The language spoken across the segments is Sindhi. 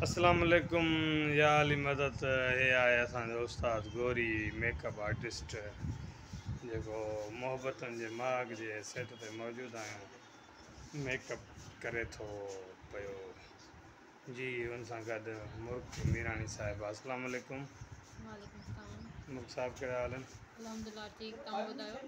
اسلام عليڪم يا علي مدد هي آهي اسان جو استاد گوري ميڪ اپ آرٽسٽ جيڪو محبتن جي مهاڳ جي سيٽ تي موجود آهيون ميڪ اپ ڪري ٿو پيو جي ان سان گڏ مرڪ ميراڻي صاحب اسلام عليڪم وعليڪم السلام مرڪ صاحب ڪهڙا حال آهن الحمدلله ٺيڪ تون ٻڌايو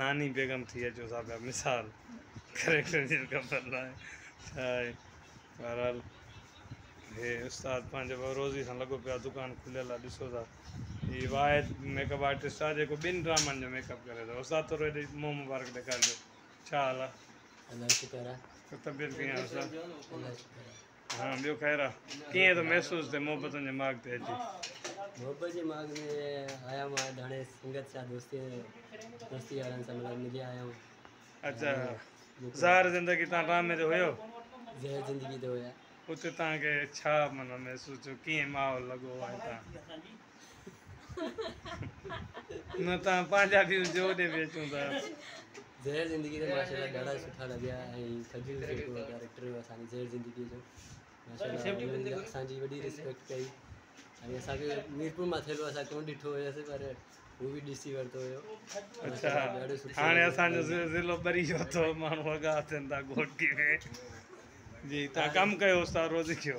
ناني بيگم ٿي اچو سا پيا مثال ڪريڪٽر جي خبر ناهي ڇا آهي بهرحال هي استاد پنهنجي روزي سان لڳو پيو دڪان کليل آهي ڏسو ٿا هي واحد ميڪ اپ آرٽسٽ آهي جيڪو ٻن ڊرامن جو ميڪ اپ ڪري ٿو استاد ٿورو هيڏي منهن مبارڪ ڏيکارجو ڇا حال آهي طبيعت ڪيئن آهي استاد ها ٻيو خير آ. ڪيئن ٿو محسوس ٿئي محبتن جي ماڳ تي اچي؟ محبت جي ماڳ ۾ آيا مان ڌڻي سنگت سان دوستي دوستي وارن سان مطلب ملي آيا آهيون اچا زهر زندگي تان ڊرامي تي هيو زهر زندگي تي هيا اتي تان کي ڇا مطلب محسوس ٿيو ڪيئن ماحول لڳو ۽ تان نه تان پنهنجا ويوز جو ڏي به اچون ٿا زهر زندگي تي ماشاءالله ڏاڍا سٺا لڳيا ۽ سڄي جيڪو ڪيريڪٽر هو اسان زهر زندگي جو ماشاءالله اسان جي وڏي ريسپيڪٽ ڪئي ۽ اسان کي ميرپور مان ٿيلو اسان ڪون ڏٺو هيس پر هو به ڏسي ورتو هيو اچھا هاڻي اسان جو ضلعو ٻري جو اٿو ماڻهو وڳا اٿن ٿا گهوٽي ۾ جي تان ڪم ڪيو استاد روزي کيو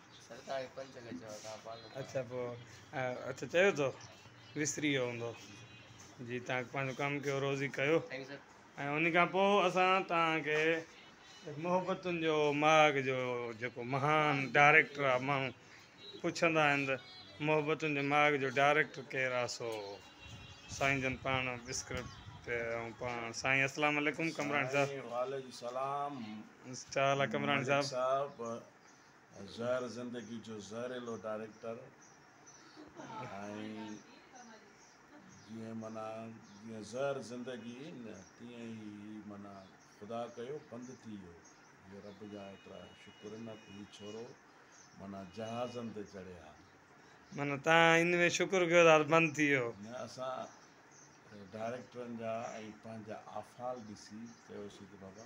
سرڪار کي پنچ کي چئو تان پاڳ ڪرڻ اچا پوء اچا چيو تو وسري ويو هوندو جي تان پنهنجو ڪم ڪيو روزي ڪيو ٿينڪ سر ۽ ان کان پوء اسان تان کي محبتن جو ماڳ جو جيڪو مهان ڊائريڪٽر آ ماڻهو پڇندا آهن ته محبتن جي ماڳ جو ڊائريڪٽر ڪير آ سو سائين جن پاڻ بسڪرپٽ ۽ پاڻ سائين اسلام عليڪم ڪمراڻي صاحب سائين وعليڪم سلام انسٽا لا ڪمراڻي ملڪ صاحب صاحب زهر زندگي جو زهريلو ڊائريڪٽر ۽ جيئن معنيٰ جيئن زهر زندگي نه تيئن ئي هي معنيٰ خدا ڪيو بند ٿي ويو جو رب جا ايترا شڪر نه ته هي ڇورو معنيٰ جهازن تي چڙهي ها. معنيٰ تان ان ۾ شڪر ڪيو ته بند ٿي ويو. نه اسان ڊائريڪٽرن جا ۽ پنهنجا آفعال ڏسي چيوسين ته بابا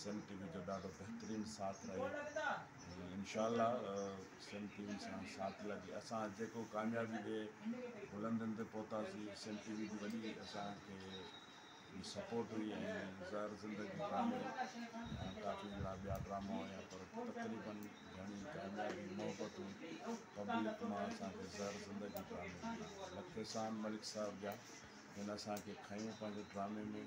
سم ٽي وي جو ڏاڍو بهترين ساٿ رهي انشاء الله سم ٽي وي سان ساٿ لڳي اسان جيڪو ڪاميابي جي بلندين تي پهتاسي سم ٽي وي جي وڏي اسان کي جي سپورٽ هئي ۽ زهر زندگي ڊرامي ۽ ڪافي جهڙا ٻيا ڊراما هيا پر تقريبن گهڻي ڪاميابي محبتون پبلڪ مان اسان کي زهر زندگي ڊرامي ملي لک احسان ملڪ صاحب جا جن اسان کي کنيو پنهنجي ڊرامي ۾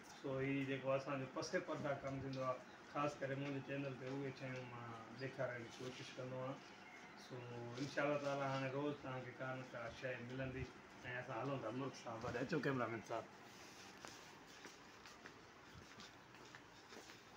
سو هي جيڪو اسان جو پسي پرده ڪم ٿيندو آهي خاص ڪري منهنجي چينل تي اهي شيون مان ڏيکارڻ جي ڪوشش ڪندو آهيان سو انشاء الله تعالٰي هاڻي روز توهان کي ڪا نه ڪا شي ملندي ۽ اسان هلون ٿا مرڪ صاحب وٽ اچو ڪيمرا مين صاحب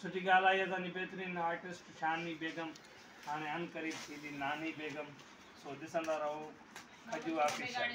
سٺي ڳالهه آهي اسان جي بهترين آرٽسٽ شامي بيگم هاڻي ان قريب ٿيندي ناني بيگم سو ڏسندا رهو کجو آفيشل